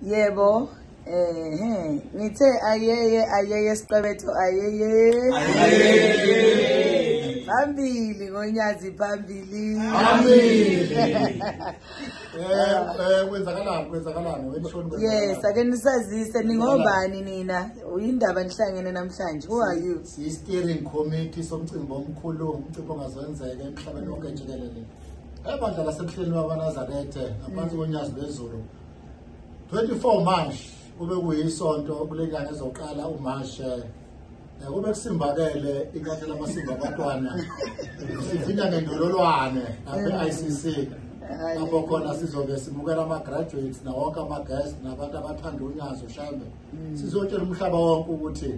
yebo ehe ngithe ayeye ayeye siqebetho ayeye phambili ngonyazi phambili yes ake nisazise ningobani nina uyindaba nihlangene namhlanje who are you siyi-steering committee somcimbi omkhulu umcimbi ongazwenzeka emhlabeni wonke jikelele ebandla lasemhleni wakanazarethe ngaphansi konyazi lwezulu 24 march kube kuyisonto kule nyanga ezoqala umarshe eh, kube kusimbakele inkathi lamasimba abantwana sivinda ngendololwane nabe-i c c lapho khona sizobe simukela ama-graduates nawonke ama-guest nabantu abathanda unyazi ushambe mm. sizotshela umhlaba wonke ukuthi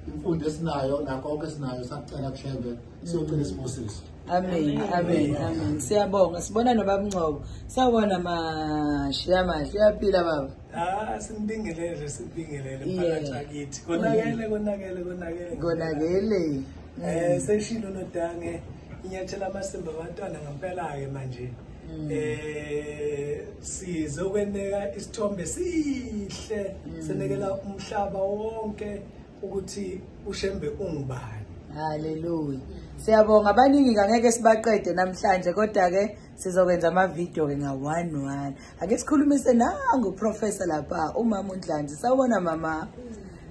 imfundo esinayo nakho konke esinayo sakucela kushembe siyocela isibusiso Amen, amen, amen. Siyabonga. Sibona nobaba Ngcobo. Sawubona mashi amahle. Uyaphila baba. Ah, simbingelele, simbingelele phakathi akithi. Konakele, konakele, konakele. Konakele. Eh, seshilo nodange inyathela amasimba abantwana ngempela ke manje. Mm. eh sizokweneka isithombe sihle mm. senekela umhlaba wonke ukuthi uShembe ungubani Hallelujah. Siyabonga abaningi kangeke sibaqede namhlanje kodwa ke sizokwenza ama video ke nga one one. Ake sikhulumise nangu professor lapha umama uNdlanzi. Sawubona mama.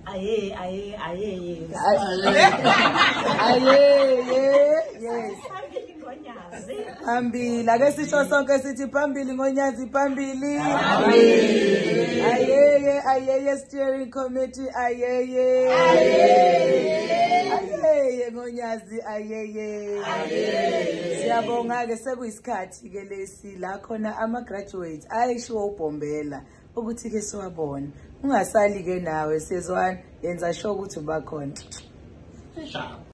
Aye aye aye. Aye. Aye. Yes. phambili ake sisho sonke sithi phambili ngonyazi phambili ayeye ayeye steering committee ayeye ayeye ngonyazi ayeye siyabonga-ke sekuyisikhathi-ke lesi la khona ama-graduate ayishiwo ubhombela ukuthi-ke siwabona ungasali-ke nawe sezwana yenza sho ukuthi ubakhona